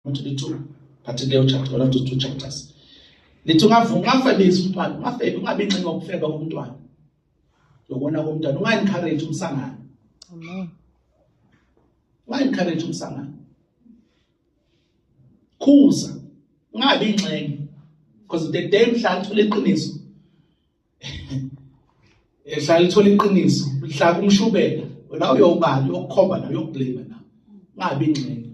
Manje lithi ngathi leyo chapter one of those two chapters. Lithi ungavuka ungafebisi umntwana, ungafebi ungabi inxenye yokufeba komntwana. Yokona komntwana unga-encourage umsangano. Amen. Unga-encourage umsangano. Khuza ungabi inxenye because the day mhla uthola iqiniso ehlala lithola iqiniso lihlaka umshubela wena uyobani yokukhomba nayo yokublame na ngabi ingxenye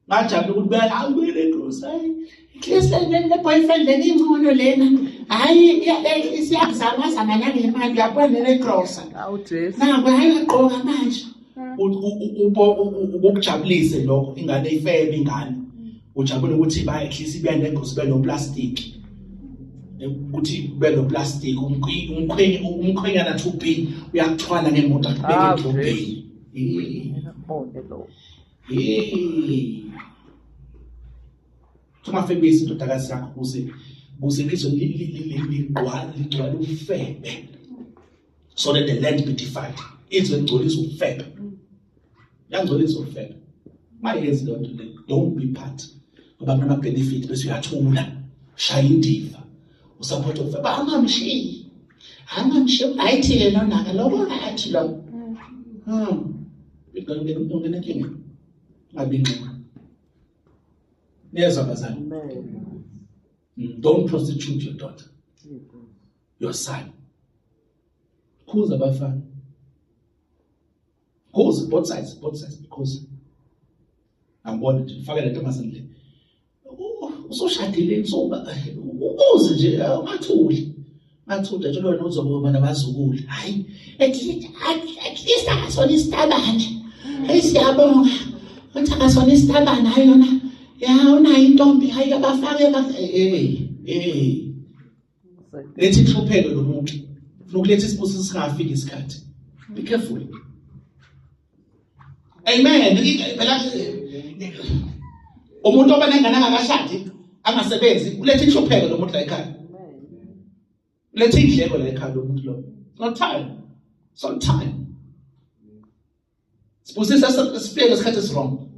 ngajabula ukuthi bela awubele indosi hayi ikhlisa leni le boyfriend leni ingcono lena hayi isiyazama zama nangemali uyabona lena igrosa awu jesu naku hayi ugqoka manje ubokujabulise lokho ingane ifebe ingane ujabule ukuthi bayehlisa ibende ngosi benoplastic ukuthi benoplastic umkhwenye umkhwenyana 2B uyakuthwala ngemoto akubeke 2B ungafebisi indodakazi yakho kuze kuze lizwe ligcwale ufebe so that the land be defiled izwe ligcolisa ukufeba yangcolisa ukufeba mayenzi loo nto leyo don't be part ngoba kunama-benefit bese uyathula shaya indiva usaphotha ukufeba angamshiyi angamshiyi ayithi yena onaka loko athi lo ngenenkinga hmm. abinxima niyezwa bazali hmm, don't prostitute your daughter your son khuza abafana khuza both sides both sides khuza angibona nje faka le ntombazane le usoshadile insuba ukuze nje ungathuli ngathula nje lona uzokuba nabazukulu hayi at least akasona isitabane hayi siyabonga ukuthi akasona isitabane hayi yona ya unayo intombi hayi abafake eh eh letha inhlupheko lomuntu ufuna ukuletha isibusiso singafiki isikhathi be careful amen phela umuntu oba nengane angakashadi angasebenzi uletha inhlupheko lomuntu la ekhaya uletha indleko la ekhaya lomuntu lo not time so time Sibusisa sifike ngesikhathi esiwrong.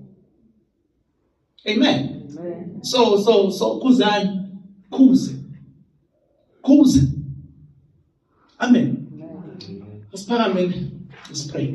Amen. Amen. So so so kuzani? Kuze. Kuze. Amen. Amen. Let's pray.